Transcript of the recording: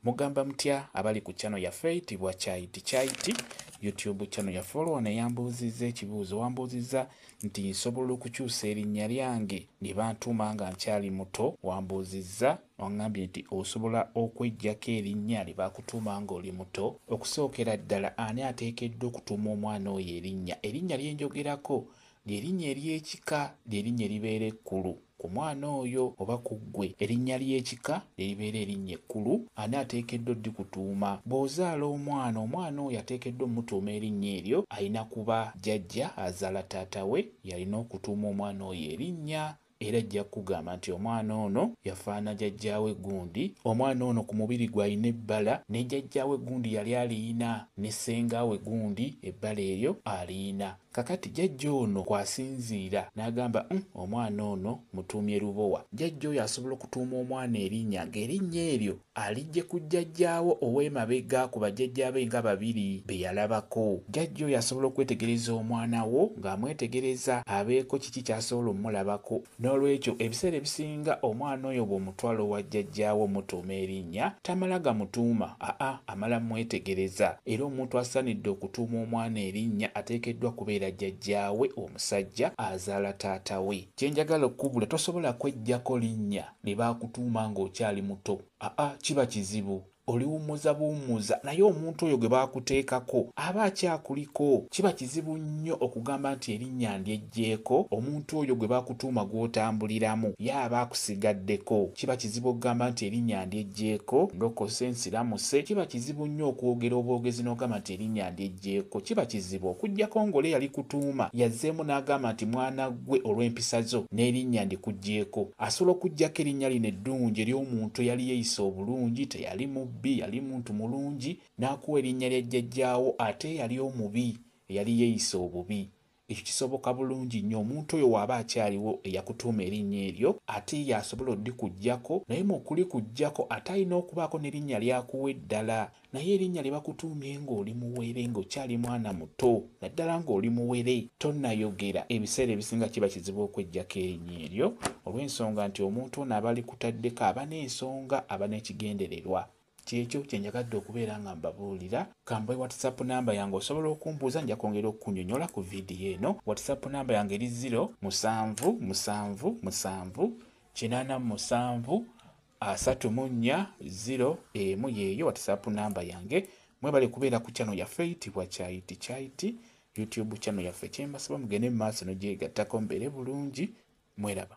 Mugamba mutya abali ku channel yaffe eyitibwa Kyayiti Kyayiti YouTube channel yaffe olwo wano eyambuuzizza ekibuuzo wambuuzizza nti nsobola okukyusa erinnya lyange lye bantuuma nga nkyali muto wambuuzizza wangambye nti osobola okwejjako erinnya lye bakutuuma nga oli muto okusookera ddala ani ateekeddwa okutuuma omwana oyo erinnya erinnya lyenjogerako lyerinnya ery'ekika lyerinnya eribeera ekkulu ku mwana oyo oba ku ggwe, erinnya ly'ekika ne libeera erinnya ekkulu, ani ateekeddwa oddikutuuma? Bw'ozaala omwana, omwana oyo ateekeddwa omutuuma erinnya eryo, alina kuba jjajja azaala taata we y'alina okutuuma omwana oyo erinnya, era ajja kukugamba nti omwana ono yafaanana jajjaawe gundi, omwana ono ku mubiri gwe alina ebbala, ne jajjaawe gundi yali aliyina, ne ssenga we gundi ebbala eryo aliyina. Kakati jjajja ono kw'asinziira n'agamba uhm omwana ono mutuumye Lubowa. Jjajja oyo asobola okutuuma omwana erinnya ng'erinnya eryo aliggye ku jjajjaawe ow'emabega ku bajjajjaabe nga babiri be yalabako. Jjajja oyo asobola okwetegereza omwana wo ng'amwetegereza abeeko kiki ky'asobola omulabako. N'olwekyo ebiseera ebisinga omwana oyo bw'omutwala owa jjajjaawe omutuuma erinnya, tamala gamutuuma, aa amala mmwetegereza. Era omuntu asaanidde okutuuma omwana erinnya ateekeddwa kubeera jjajjaawe omusajja azaala taata we. Kye njagala okukubula tosobola kweggyako linnya lye baakutuuma ng'okyali muto, aa kiba kizibu. Oliwummuza buwummuza naye omuntu oyo gwe baakuteekako aba akyakuliko. Kiba kizibu nnyo okugamba nti erinnya ndyeggyeko omuntu oyo gwe bakutuuma gw'otambuliramu ye aba akusigaddeko. Kiba kizibu okugamba nti erinnya ndyeggyeko, ndokose, nsiramuse, kiba kizibu nnyo okwogera obwogezi n'ogamba nti erinnya ndyeggyeko. Jeko kiba kizibu okujjako ngole yali kutuuma yazzeemu n'agamba nti mwana ggwe olw'empisa zo n'erinnya ndikujjeeko. Asobola okujjako erinnya lino eddungi ery'omuntu eyali yeyisa obulungi, teyali mubbi, yali muntu mulungi, n'akuwa erinnya lya jjajjaawo ate eyali omubi, eyali yeyisa obubi. Ekyo kisoboka bulungi nnyo omuntu oyo w'aba akyaliwo eyakutuuma erinnya eryo, ate ye y'asobola odikuggyako, naye mu okulikuggyako ate alina okubaako n'erinnya ly'akuwa eddala. Naye erinnya lye bakutuumye ng'oli muwere, ng'okyali mwana muto, naddala ng'oli muwere, tonnayogera, ebiseera ebisinga kiba kizibu okweggyako erinnya eryo, olw'ensonga nti omuntu ono aba alikutaddeko aba n'ensonga, aba n'ekigendererwa. Kyekyo kyenjagadde okubeera nga mbabuulira. Kambawe WhatsApp number yange osobola okumbuuza nja kwongera okukunyonyola ku video eno. WhatsApp number yange eri zero musanvu musanvu musanvu kinaana musanvu asatu mu nnya zero emu yeeyo WhatsApp number yange. Mwebale kubeera ku channel yaffe eyitibwa Kyayiti Kyayiti YouTube channel yaffe. Kyembasaba mugende mu maaso nogyegattako mbeere bulungi. Mweraba.